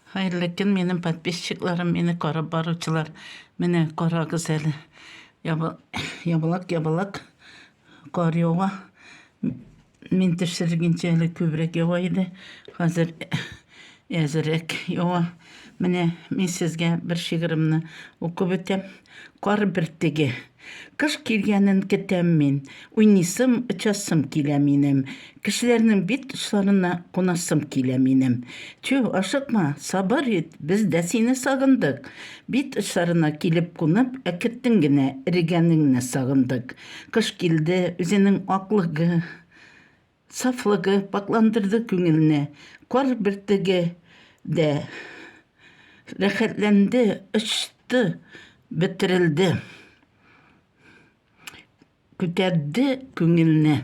Хәерле көн, минем подписчикларым, мине карап баручылар. Менә карагыз әле. Ябалак, ябалак. Кар ява. Мин төшергенчә әле күбрәк ява иде. Хәзер әзерәк ява. Менә мин сезгә бер шигыремне укып үтәм. Кар бөртеге. Кыш килгәнен көтәм мин, Уйныйсым, очасым килә минем, Кешеләрнең бит очларына Кунасым килә минем. Тю, ашыкма, сабыр ит, Без дә сине сагындык. Бит очларына килеп кунып, Әкеттең генә, эрегәнеңне сагындык. Кыш килде, үзенең аклыгы. Сафлыгы пакьландырды күңелне. Кар бөртеге дә рәхәтләнде, очты, бөтерелде. Күтәрде күңелне.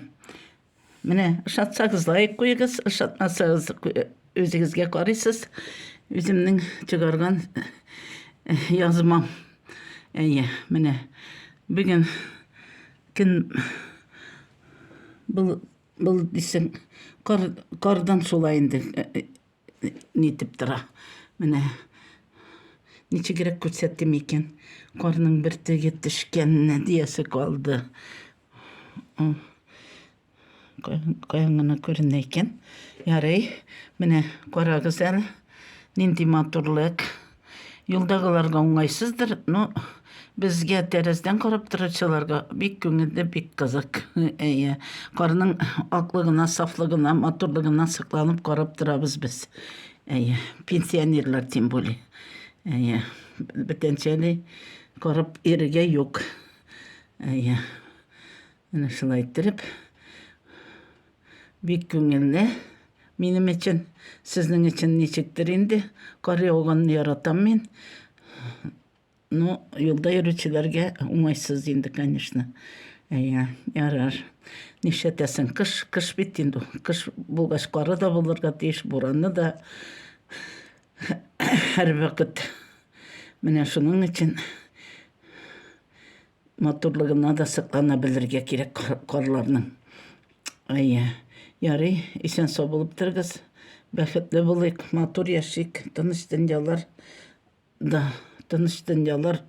Менә ошатсагыз лайк куегыз, ошатмасагыз үзегезгә карыйсыз. Үземнең чыгарган язмам. Әйе, менә бүген көн Болыт, болыт дисең, кар, кардан шулай инде э, э, э, нитеп тора. Менә ничегрәк күрсәтим икән. Карның бер төге төшкәненә диясе калды. Каян гына күренә икән. Ярый, менә карагыз әле, нинди матурлык. Юлдагыларга уңайсыздыр, но безгә тәрәздән карап торучыларга бик күңелле, бик кызык. Әйе, карның аклыгына, сафлыгына, матурлыгына сокланып карап торабыз без. Әйе, пенсионерлар тем более. Әйе, бүтәнчәли карап ирегә юк. Әйе. Менә шулай иттереп Бик күңелле минем өчен. Сезнең өчен ничектер инде. Кариоганны яратам мин. Ну, юлда йөрүчеләргә уңайсыз инде, конечно. Әйе, ярар. Нишләтәсең, кыш, кыш бит инде. Кыш булгач, кары да булырга тиеш, бураны да. Һәрвакыт. Менә шуның өчен Матурлыгына да соклана белергә кирәк карларның. Әйе. Ярый, исән-сау булып торыгыз. Бәхетле булыйк, матур яшик, тыныч дөньялар да, тыныч дөньялар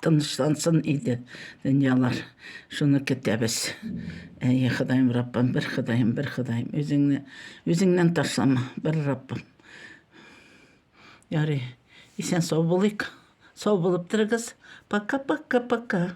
тынычлансын иде дөньялар. Шуны көтәбез. Әйе, Ходаем Раббым, бер Ходаем, бер Ходаем, үзеңне үзеңнән ташлама, бер Раббым. Ярый, исән сау булыйк. Сау булып торыгыз. Пока-пока-пока.